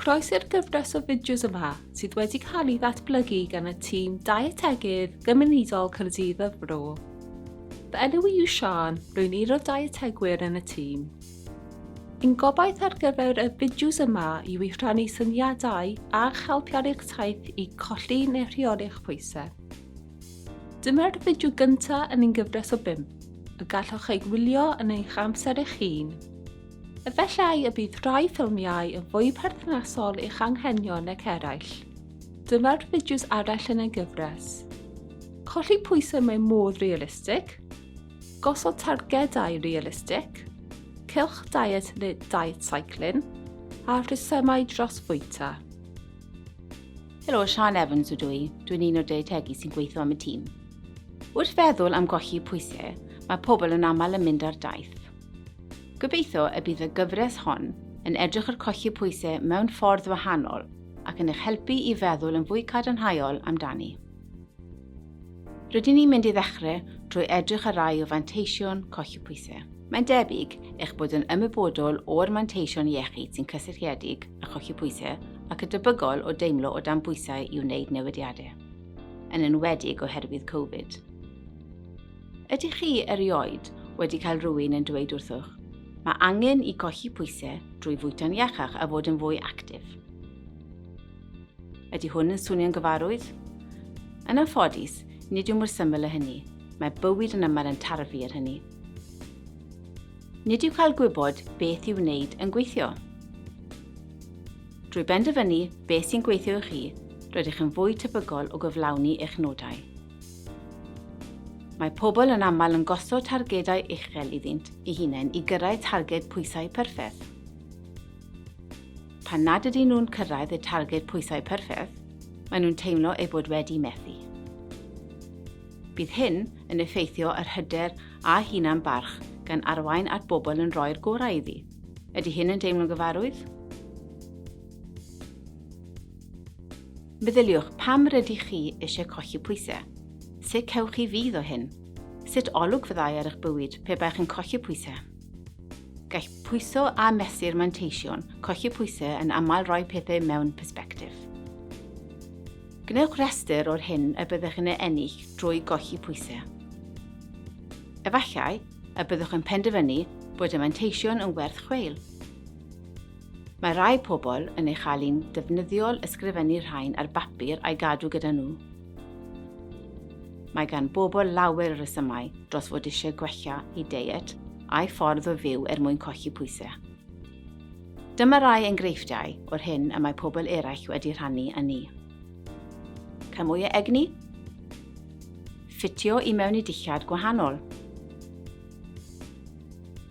Croeso i'r gyfres o fideos yma sydd wedi cael ei ddatblygu gan y tîm Dietegydd Gymunedol Cyrdydd y Fro. Fy enw i yw Sian, rwy'n un o dietegwyr yn y tîm. Yn gobaith ar gyfer y fideos yma yw i rhannu syniadau a'ch helpu ar eich taith i colli neu rheoli'ch pwysau. Dyma'r fideo gyntaf yn ein gyfres o bum, y gallwch ei wylio yn eich amser eich hun. Efallai y bydd rhai ffilmiau yn fwy perthnasol i'ch anghenion nag eraill. Dyma'r fideos arall yn ei gyfres. Colli pwysau mewn modd realistig, gosod targedau realistig, cylch diet neu diet cycling, a rhesymau dros fwyta. Helo, Sian Evans ydw i. Dwi'n un o deitegi sy'n gweithio am y tîm. Wrth feddwl am golli pwysau, mae pobl yn aml yn mynd ar daith. Gobeithio y bydd y gyfres hon yn edrych ar colli pwysau mewn ffordd wahanol ac yn eich helpu i feddwl yn fwy cadarnhaol amdani. Rydyn ni'n mynd i ddechrau drwy edrych ar rai o fanteision colli pwysau. Mae'n debyg eich bod yn ymwybodol o'r manteision iechyd sy'n cysylltiedig â cholli pwysau ac yn debygol o deimlo o dan bwysau i wneud newidiadau, yn enwedig oherwydd Covid. Ydych chi erioed wedi cael rhywun yn dweud wrthych, mae angen i golli pwysau drwy fwyta'n iachach a fod yn fwy actif? Ydy hwn yn swnio'n gyfarwydd? Yn anffodus, nid yw mor syml â hynny. Mae bywyd yn aml yn tarfu ar hynny. Nid yw cael gwybod beth i'w wneud yn gweithio. Drwy benderfynu beth sy'n gweithio i chi, rydych yn fwy tebygol o gyflawni eich nodau. Mae pobl yn aml yn gosod targedau uchel iddynt eu hunain i gyrraedd targed pwysau perffaith. Pan nad ydyn nhw'n cyrraedd y targed pwysau perffaith, maen nhw'n teimlo eu bod wedi methu. Bydd hyn yn effeithio yr hyder a hunan barch gan arwain at bobl yn rhoi'r gorau iddi. Ydy hyn yn deimlo'n gyfarwydd? Meddyliwch pam rydych chi eisiau colli pwysau. Sut cewch chi fydd o hyn? Sut olwg fyddai ar eich bywyd pe baech yn colli pwysau? Gall pwyso a mesur manteision colli pwysau yn aml roi pethau mewn persbectif. Gwnewch restr o'r hyn y byddwch yn ei ennill drwy golli pwysau. Efallai y byddwch yn penderfynu bod y manteision yn werth chweil. Mae rhai pobl yn ei chael hi'n ddefnyddiol ysgrifennu rhain ar bapur a'i gadw gyda nhw. Mae gan bobl lawer o resymau dros fod eisiau gwella eu deiet a'u ffordd o fyw er mwyn colli pwysau. Dyma rai engreifftiau o'r hyn y mae pobl eraill wedi rhannu â ni. Cael mwy o egni? Ffitio i mewn i dillad gwahanol?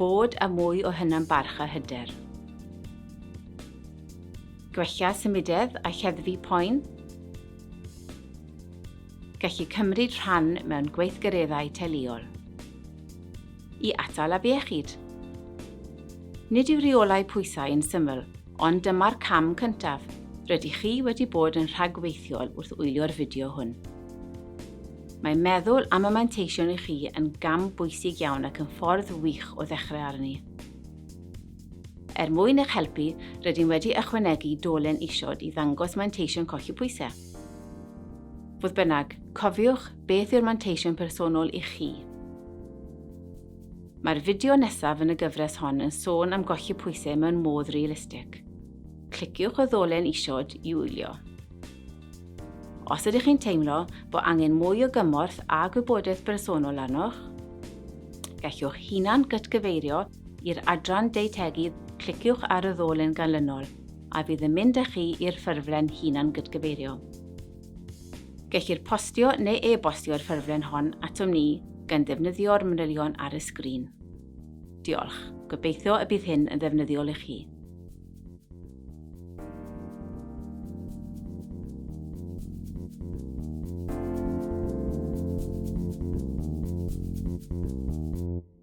Bod â mwy o hunan barch a hyder? Gwella symudedd a lleddfu poen? Gallu cymryd rhan mewn gweithgareddau teuluol. I atal afiechyd. Nid yw rheolau pwysau yn syml, ond dyma'r cam cyntaf. Rydych chi wedi bod yn rhagweithiol wrth wylio'r fideo hwn. Mae meddwl am y manteision i chi yn gam bwysig iawn ac yn ffordd wych o ddechrau arni. Er mwyn eich helpu, rydym wedi ychwanegu dolen isod i ddangos manteision colli pwysau. Fodd bynnag, cofiwch beth yw'r manteision personol i chi. Mae'r fideo nesaf yn y gyfres hon yn sôn am golli pwysau mewn modd realistig. Cliciwch y ddolen isod i wylio. Os ydych chi'n teimlo bod angen mwy o gymorth a gwybodaeth bersonol arnoch, gallwch hunan gytgyfeirio I'r adran Deutegu cliciwch ar y ddolen ganlynol a fydd yn mynd â chi i'r ffurflen hunan-gydgyfeirio. Gellir postio neu e-bostio'r ffurflen hon atom ni gan ddefnyddio'r manylion ar y sgrin. Diolch, gobeithio y bydd hyn yn ddefnyddiol i chi. Thank you.